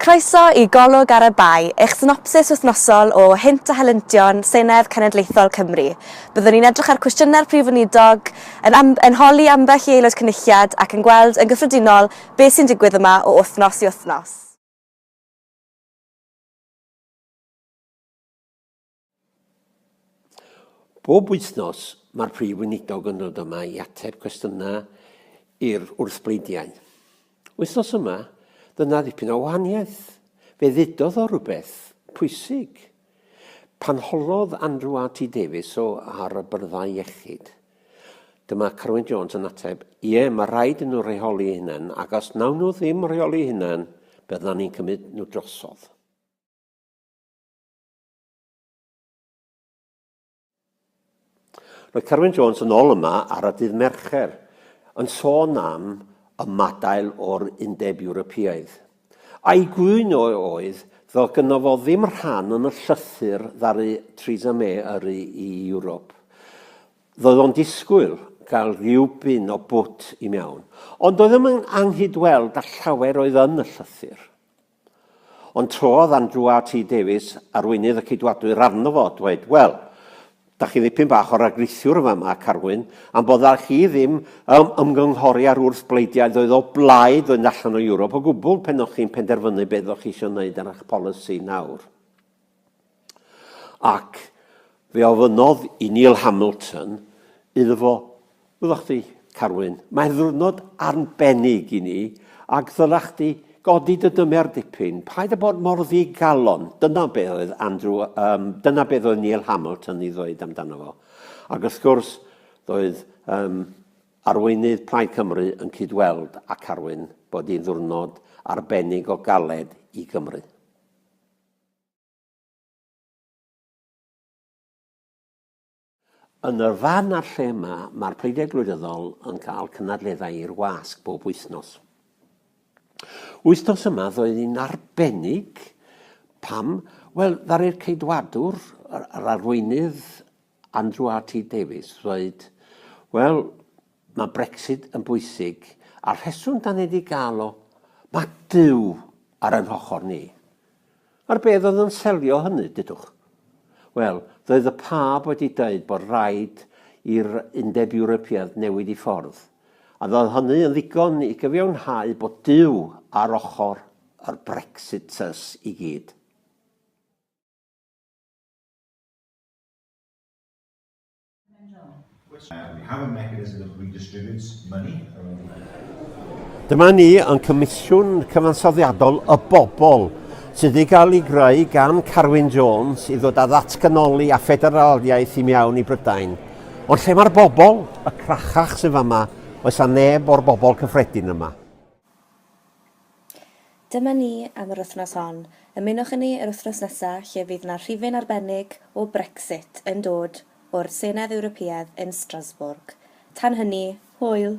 Croeso i Golwg ar y Bae, eich synopsis wythnosol o Hynt a Helyntion Senedd Cenedlaethol Cymru. Byddwn ni'n edrych ar cwestiynau'r Prif Weinidog, yn am- yn holi ambell i Aelod Cynulliad ac yn gweld yn gyffredinol beth sy'n digwydd yma o wythnos i wythnos. Bob wythnos, mae'r Prif Weinidog yn dod yma i ateb cwestiynau i'r wrthbleidiau. Wythnos yma, dyna ddipyn o wahaniaeth. Fe ddudodd o rhywbeth pwysig. Pan holodd Andrew RT Davies o ar y byrddau iechyd, dyma Carwyn Jones yn ateb, ie, mae rhaid yn nhw rheoli hynna'n, ac os nawn nhw ddim rheoli hynna'n, byddan ni'n cymryd nhw drosodd. Roedd Carwyn Jones yn ôl yma ar y dydd Mercher yn sôn am ymadael o'r Undeb Ewropeaidd. A'i gŵyn oedd fel gynno fo ddim rhan yn y llythyr ddaru Theresa May yrru i Ewrop. Roedd o'n disgwyl gael rhywbyn o bwt i mewn, ond doedd ddim yn anghyd-weld â llawer oedd yn y llythyr. Ond trodd Andrew RT Davies, arweinydd y Ceidwadwyr arno fo, dweud, Wel, da chi ddipyn bach o ragrisiwr yn fama, Carwyn, am bod â chi ddim ym ymgynghori ar wrth bleidiaid oedd o blaid fynd allan o Ewrop o gwbl, pen o'ch chi'n penderfynu beth o'ch chi isio wneud ar eich polisi nawr. Ac fe ofynnodd i Neil Hamilton iddo fo, Ddylech chdi, Carwyn, mae'n ddiwrnod arbennig i ni, ac ddylech chdi godi dy dymer dipyn, paid â bod mor ddigalon. Dyna be oedd Andrew, um, dyna beth oedd Neil Hamilton i ddweud amdano fo. Ac wrth gwrs, doedd um, arweinydd Plaid Cymru yn cydweld a Carwyn bod hi'n ddiwrnod arbennig o galed i Gymru. Yn yr fan a'r lle yma, mae'r Pleidiau Gwleidyddol yn cael cynadleddau i'r wasg bob wythnos. Wythnos yma ddoedd hi'n arbennig. Pam? Wel, ddaru'r Ceidwadwr, yr arweinydd Andrew RT Davies, ddweud, wel, Mae Brexit yn bwysig, a'r rheswm da ni di gael o, mae Duw ar ein hochor ni. A'r beth oedd yn selio hynny, dudwch? Wel, doedd y pab wedi dweud bod rhaid i'r Undeb Ewropeaidd newid i ffordd, a ddoedd hynny yn ddigon i gyfiawnhau bod Duw ar ochr yr Brexiters i gyd. Dyma ni yn Comisiwn Cyfansoddiadol y Bobl sydd wedi cael ei greu gan Carwyn Jones i ddod â ddatganoli a ffederaliaeth i mewn i Brydain. Ond lle mae'r bobl? Y crachach sydd fama, oes a neb o'r bobl cyffredin yma? Dyma ni am yr wythnos hon. Ymunwch â ni yr wythnos nesa lle fydd 'na rhifyn arbennig o Brexit yn dod o'r Senedd Ewropeaidd yn Strasbourg. Tan hynny, hwyl!